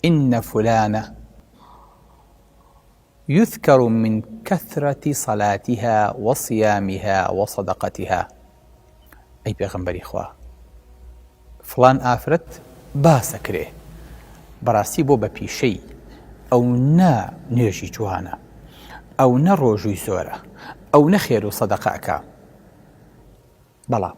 ان فلانە یذکر من کثرە صلاتها وصیامها وصدقتها ئەی پێغەمبەری خوا فڵان ئافرەت باسەکرێ بەڕاستی بۆ بە پیشەی ئەو نە نوێژی جوانە ئەو نە ڕۆژووی زۆرە ئەو نەخێر و سەدەقەکە بەڵام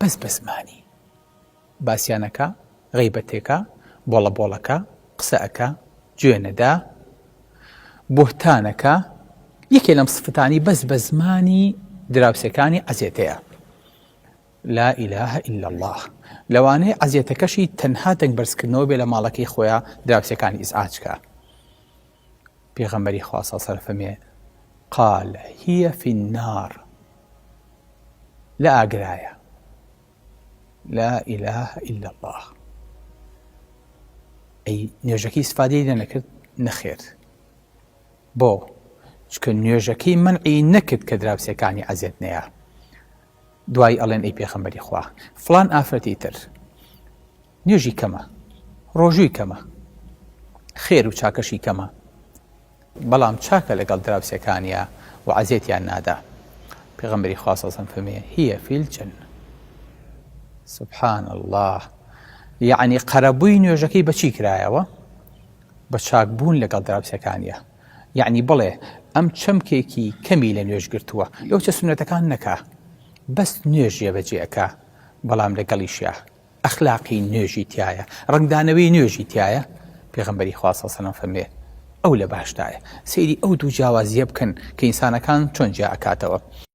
بەس بە زمانی باسیان ئەکا غەیبەت ئەکا بۆڵە بۆڵ ئەکا قسە ئەکا جوێ نەدا بوهتان ئەکا یەکێ لەم سفتانی بەس بە زمانی دراوسێکانی عەزێتەیە لا ئیلاهە ئیلا الله لەوانەیە عەزیەتەکەشی تەنها دەنگ بەرزکردنەوە بێ لە ماڵەکەی خۆیان دراوسەکانی ئیزعاجکە پێغەمبەری خوا صلی اللە فەرمێ، قال هی فی النار، لە ئاگرایە. لا اله الا الله ئەی نوێژەکەی سفادەی لێ نەکرد نەخێر بۆ چکە نوێژەکەی منعی نەکرد کە دراوسەکانی ئەزێت نەیە دوای ئەڵێن ئەی پێخەمبەری خوا فلان ئافرەتی تر نوێژی کەمە ڕۆژووی کەمە خێر و چاکەشی کەمە بەڵام چاکە لەگەڵ دراوسێکانیا و عەزێتیان نادا پێغەمبەری خوا صلی الله علیه و سلم فەرموویە هیە فی الجنە سبحان الله یعنی قەرەبووی نوێژەکەی بەچی کرایەوە بە چاک بوون لەگەڵ دراوسەکانیە یعنی بڵێ ئەم چەمکێکی کەمی لە نوێژ گرتووە لەو چە سونەتەکان نەکا بەس نوێژیە بەجێەکە بەڵام لەگەڵیشە ئەخلاقی نوێژی تیایە ڕەنگدانەوەی نوێژی تیایە پێغەمبەری خوا صلی سەلام فەرمێ ئەو لە باشدایە سەیری ئەو دوو جیاوازیە بکەن کە ئینسانەکان چۆن جیا ئەکاتەوە